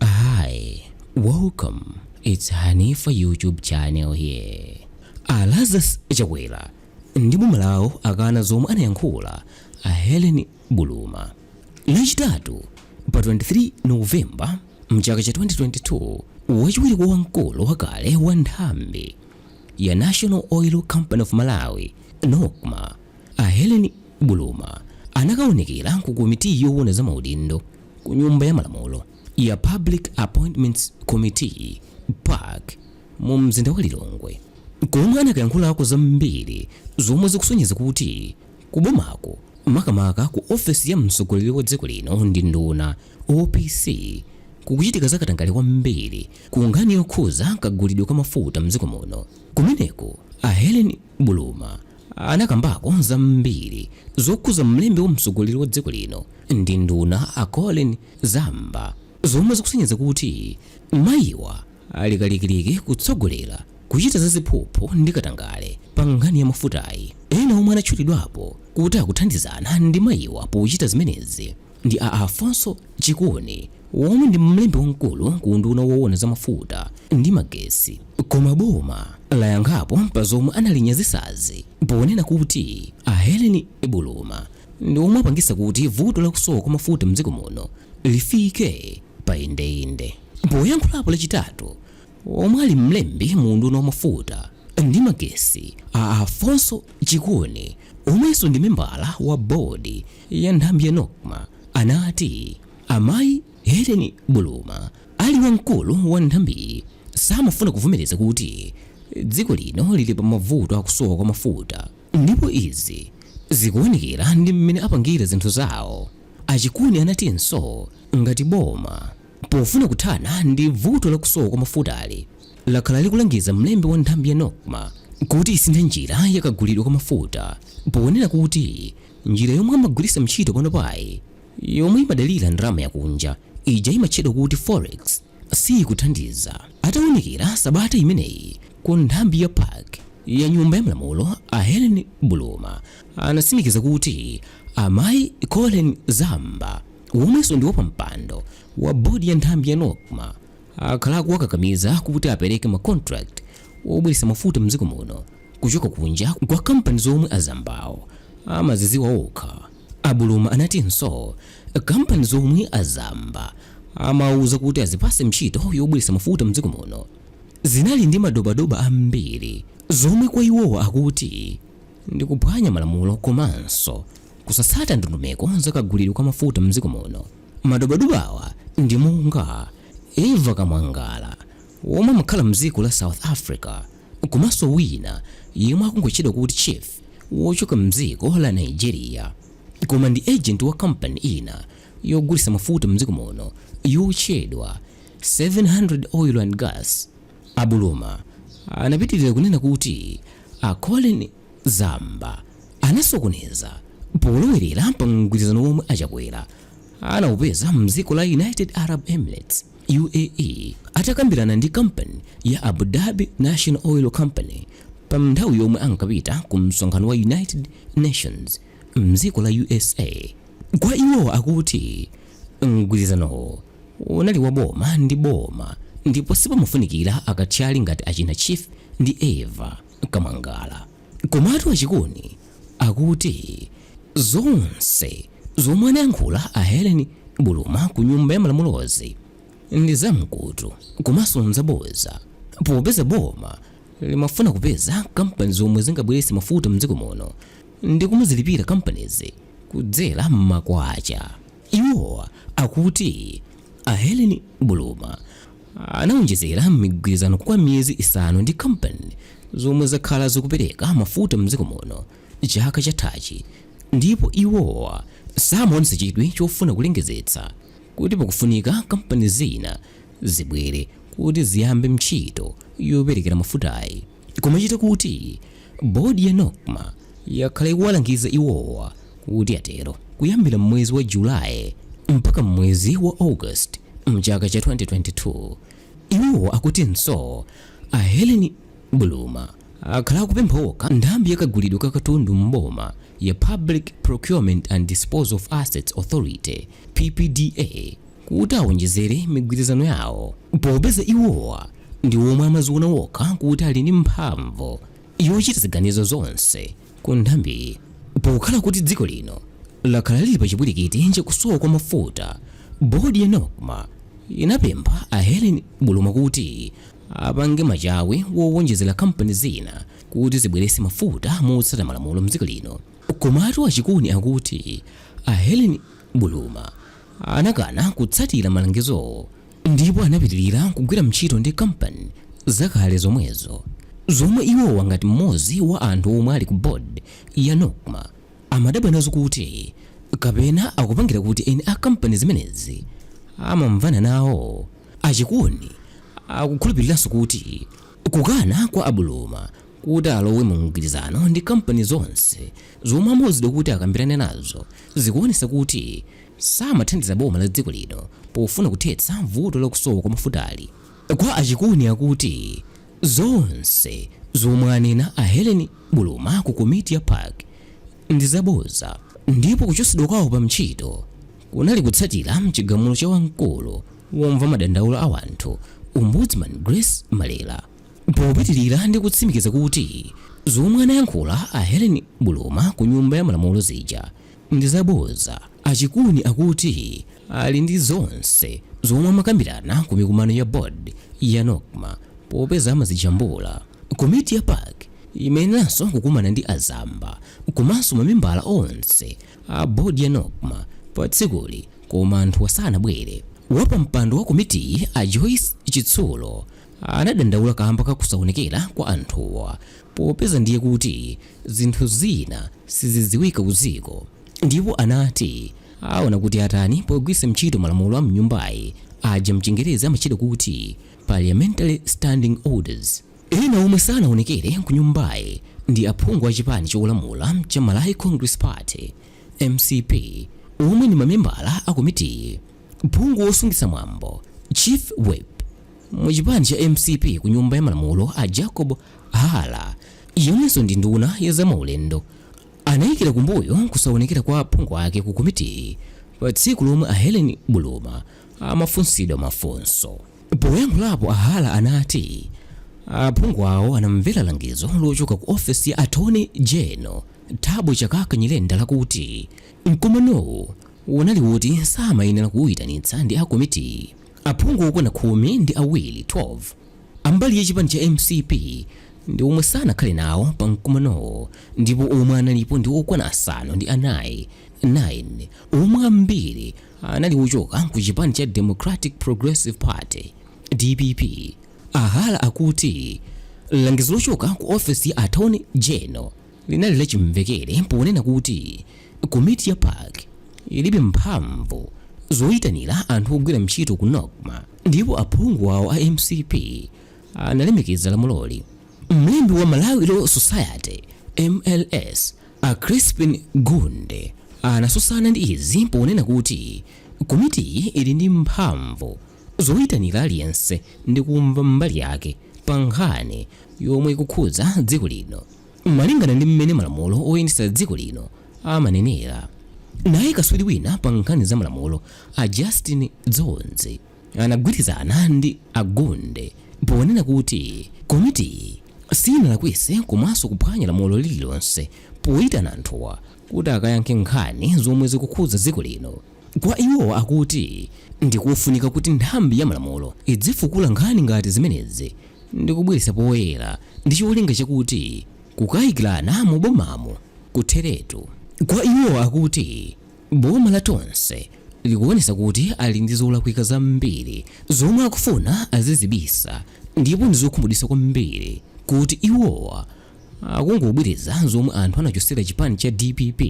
Hi, welcome its Hanifa YouTube channel here. A Lazarus Chakwera ndi boma lawo akana zomwe anayankhula a Hellen Buluma. Lachitatu pa 23 November mchaka cha 2022 wachiwiri kwa wamkulu wakale wa nthambi ya National Oil Company of Malawi NOCMA a Hellen Buluma anakaonekera ku komiti yoona za maudindo ku nyumba ya malamulo ya Public Appointments Committee PAC mu mzinda wa Lilongwe komwe anakayankhulako zambiri zomwe zikusonyeza kuti kubomako makamaka ku ofisi ya mtsogoleri wa dziko lino ndi nduna OPC kukuchitika zakatangale kwambiri ku nkhani yokhuza kagulidwe ka mafuta mdziko muno kumeneko a Hellen Buluma anakambako zambiri zokhuza mlembi wa mtsogoleri wa dziko lino ndi nduna a Colleen Zamba zomwe zikusonyeza kuti mayiwa ali kalikiliki kutsogolera kuchita za ziphuphu ndi katangale pa nkhani ya mafutayi. Ena omwe anatchulidwapo kuti akuthandizana ndi mayiwa pochita zimenezi ndi a Alfonso Chikuni omwe ndi mlembi wamkulu ku unduna woona za mafuta ndi magetsi. Koma boma layankhapo pa zomwe analinyazisazi ponena kuti a Hellen Buluma ndi omwe apangisa kuti vuto la kusowa kwa mafuta mdziko muno lifike pa indeinde. Poyankhulapo lachitatu, omwe ali mlembi mu unduna wa mafuta ndi magetsi a Alfonso Chikuni omwenso ndi membala wa board ya nthambi ya Nocma anati amayi Hellen Buluma ali wamkulu wa nthambiyi samafuna kuvomereza kuti dziko lino lili pa mavuto akusowa kwa mafuta ndipo izi zikuonekera ndi mmene apangira zinthu zawo. A Chikuni anatinso ngati boma pofuna kuthana ndi vuto la kusowa kwa mafutali lakhala likulangiza mlembi wa nthambi ya Nocma kuti isinthe njira yakagulidwe kwa mafuta ponena kuti Njira yomwe amagwiritsa ntchito panopayi yomwe imadalira ndalama yakunja ija imatchedwa kuti Forex siyikuthandiza. Ataonekera sabata imeneyi ku nthambi ya PAC ya nyumba ya malamulo a Hellen Buluma anatsimikiza kuti amayi Colleen Zamba omwenso ndi wapampando wa board ya nthambi ya Nocma akhala akuwakakamiza kuti apereke ma contract obweretsa mafuta mdziko muno. kuchoka kunja kwa kampani zomwe a Zambawo amaziziwa okha. A Buluma anatinso kampani zomwe a Zamba amauza kuti azipase mtchito yobweretsa mafuta mdziko muno zinali ndi madobadoba ambiri zomwe kwa iwowa akuti ndi kuphwanya malamulo komanso kusatsata ndondomeko za kagulidwe kwa mafuta mdziko muno. Madobadobawa ndi monga Eva Kamwangala womwe amakhala mdziko la South Africa Komanso wina yemwe akungotchedwa kuti Chief wochoka mdziko la Nigeria koma ndi agent wa company ina yogulitsa mafuta mdziko muno yotchedwa 700 Oil and Gas, a Buluma anapitilira kunena kuti a Colleen Zamba anasokoneza polowelera pa mgwirizano womwe a Chakwera anaupeza mdziko la United Arab Emirates. UAE atakambirana ndi kampani ya Abu Dhabi National Oil Company pa mnthawi yomwe ankapita ku msonkhano wa United Nations mdziko la usa. Kwa iwo akuti mgwirizanowo unali wa boma ndi boma ndipo sipamafunikira akathyali ngati achina Chief ndi Eva Kamwangala. Komatu a Chikuni akuti zonse zomwe anayankhula a Hellen Buluma ku nyumba ya malamulozi ndi za mkutu komanso nzaboza popeza boma limafuna kupeza kampani zomwe zingabweretse mafuta mdziko muno ndi kumazilipira kampanizi kudzera m'makwacha. Iwowa akuti a Hellen Buluma Anaonjezera migwirizano kwa miyezi isanu ndi kampani zomwe zakhala zikupereka mafuta mdziko muno chaka chathachi ndipo iwowa samaonetsa chidwi chofuna kulengezetsa kuti pakufunika kampani zina zibwere kuti ziyambe mtchito yoperekera mafutayi. kumachita kuti bodi ya Nocma yakhala ikuwalangiza iwowa kuti atero kuyambira m'mwezi wa July mpaka m'mwezi wa August m'chaka cha 2022. Iwowa akutinso a Hellen Buluma akhala akupempha okha nthambi ya kagulidwe ka katundu m'boma ya Public Procurement and Disposal of Assets Authority, PPDA, kuti awonjezere migwirizano yawo popeza iwowa ndi omwe amaziona wokha kuti ali ndi mphamvu yochita ziganizo zonse ku nthambiyi pokhala kuti dziko lino lakhala lili pa chipwirikiti chakusowa kwa mafuta bodi ya Nocma inapempha a Hellen Buluma kuti apange machawi wowonjezera kampani zina kuti zibwerese mafuta motsata malamulo mdziko lino komatu a Chikuni akuti a Hellen Buluma anakana kutsatira malangizowo ndipo anapitilira kugwira ntchito ndi company zakale zomwezo zomwe iwowa ngati mmodzi wa anthu omwe ali ku board ya Nocma amadabwa nazo kuti kapena akupangira kuti eni a company zimenezi amamvana nawo. A Chikuni akukhulupiliranso kuti kukana kwa a Buluma kuti alowe mu mgwirizano ndi company zonse zomwe amauzidwa kuti akambirane nazo zikuonesa kuti samathandiza boma la dziko lino pofuna kuthetsa vuto la kusowa kwa mafutali. Kwa a Chikuni akuti zonse zomwe anena a Hellen Buluma ku komiti ya pac ndi zaboza ndipo kuchosedwa kwawo pa ntchito kunali kutsatira chigamulo cha wamkulu womva madandaulo a wanthu Ombudsman Grace Malera. popitirira ndi kutsimikiza kuti zomwe anayankhula a helen buluma ku nyumba ya malamulo zija ndi zaboza a chikuni akuti ali ndi zonse zomwe amakambirana ku mikumano ya board ya nocma popeza amazijambula komiti ya pac imayeneranso kukumana ndi a zamba komanso mamembala onse a board ya nocma pa tsikuli koma anthuwa sanabwere wapampando wa komitiyi a joyce chitsulo anadandaula kamba ka kusaonekera kwa anthuwa popeza ndiye kuti zinthu zina sizidziwika kudziko ndipo anati aona kuti atani pogwiritsa ntchito malamulo a mnyumbayi aja mchingerezi amatcheta kuti parliamentary standing orders ena omwe sanaonekere ku nyumbayi ndi aphungu a chipani cholamula cha malawi congress party mcp omwe ndi mamembala a komitiyi Phungu wosungitsa mwambo, Chief Whip, mu chipani cha mcp ku nyumba ya malamulo a Jacob Hara yemwenso ndi nduna ya za maulendo anayikira kumbuyo kusawonekera kwa aphungu ake ku komitiyi pa tsiku lomwe a Hellen Buluma amafunsidwa mafunso. Poyankhulapo a Hara anati aphungu awo anamvera langizo lochoka ku ofesi ya Attorney General Thabo Chakaka Nyirenda lakuti mkumanowu unali woti samayenera kuuyitanitsa ndi a komitiyi. Aphungu okwana khumi ndi awiri, 12, a mbali ya chipani cha mcp ndi omwe sanakhale nawo pa mkumanowo ndipo omwe analipo ndi okwana asanu ndi anayi, 9, omwe ambiri anali ochoka ku chipani cha Democratic Progressive Party, dpp. A Hara akuti langizo lochoka ku ofesi ya Attorney General, linali lachimvekere ponena kuti komiti ya pac ilibe mphamvu zoitanira anthu ogwira ntchito ku Nocma ndipo aphungu awo a mcp analemekeza lamuloli. Mlembi wa Malawi Law Society, mls, a Chrispin Ngunde anatsutsana ndi izi ponena kuti komitiyi ili ndi mphamvu zoitanira aliyense ndi kumva mbali yake pa nkhani yomwe ikukhudza dziko lino. malingana ndi mmene malamulo oyendetsera dziko lino amanenera. Naye kaswiri wina pa nkhani za malamulo a Justin Dzonzi anagwirizana ndi a Ngunde ponena kuti komitiyi siinalakwise komanso kuphwanya lamulo lililonse poitana anthuwa kuti akayankhe nkhani zomwe zikukhudza dziko lino. Kwa iwo akuti ndikofunika kuti nthambi ya malamulo idzifukula nkhani ngati zimenezi ndikubweretsa poyera ndi cholinga chakuti kukayikirana mu bomamo kutheretu. Kwa iwo akuti boma la Tonse likuonetsa kuti ali ndi zolakwika zambiri zomwe akufuna azizibisa ndipo ndizokhumudwitsa kwambiri kuti iwowa akungobwereza zomwe anthu anachotsera chipani cha dpp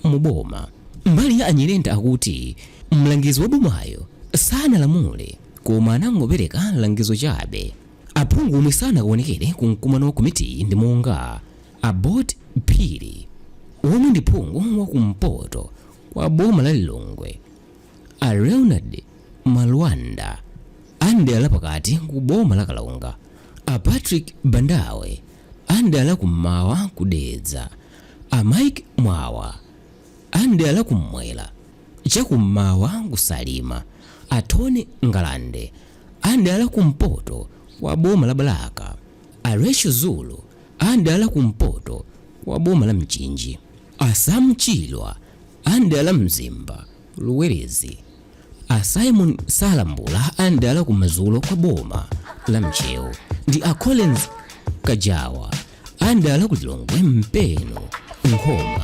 mu boma. Mbali ya a Nyirenda akuti mlangizi wa bomayo sanalamule koma anangopereka langizo chabe. Aphungu omwe sanakaonekere ku mkumano wa komitiyi ndi monga Abbot Phiri omwe ndi phungu wa kumpoto kwa boma la Lilongwe, a Leonard Mwalwanda a m'dera la pakati ku boma la Karonga, a Patrick Bandawe a m'dera la kum'mawa ku Dedza, a Mike Mwawa, a m'dera la kum'mwera cha kum'mawa ku Salima, a Tony Ngalande, a m'dera la kumpoto kwa boma la Balaka, a Rachel Zulu, a m'dera la kumpoto kwa boma la Mchinji, a Sam Chirwa, a m'dera la Mzimba, Luwelezi, a Simon Salambula a m'dera la kumadzulo kwa boma la Ntcheu ndi a Collins Kajawa a m'dera la ku Lilongwe Mpenu Nkhoma.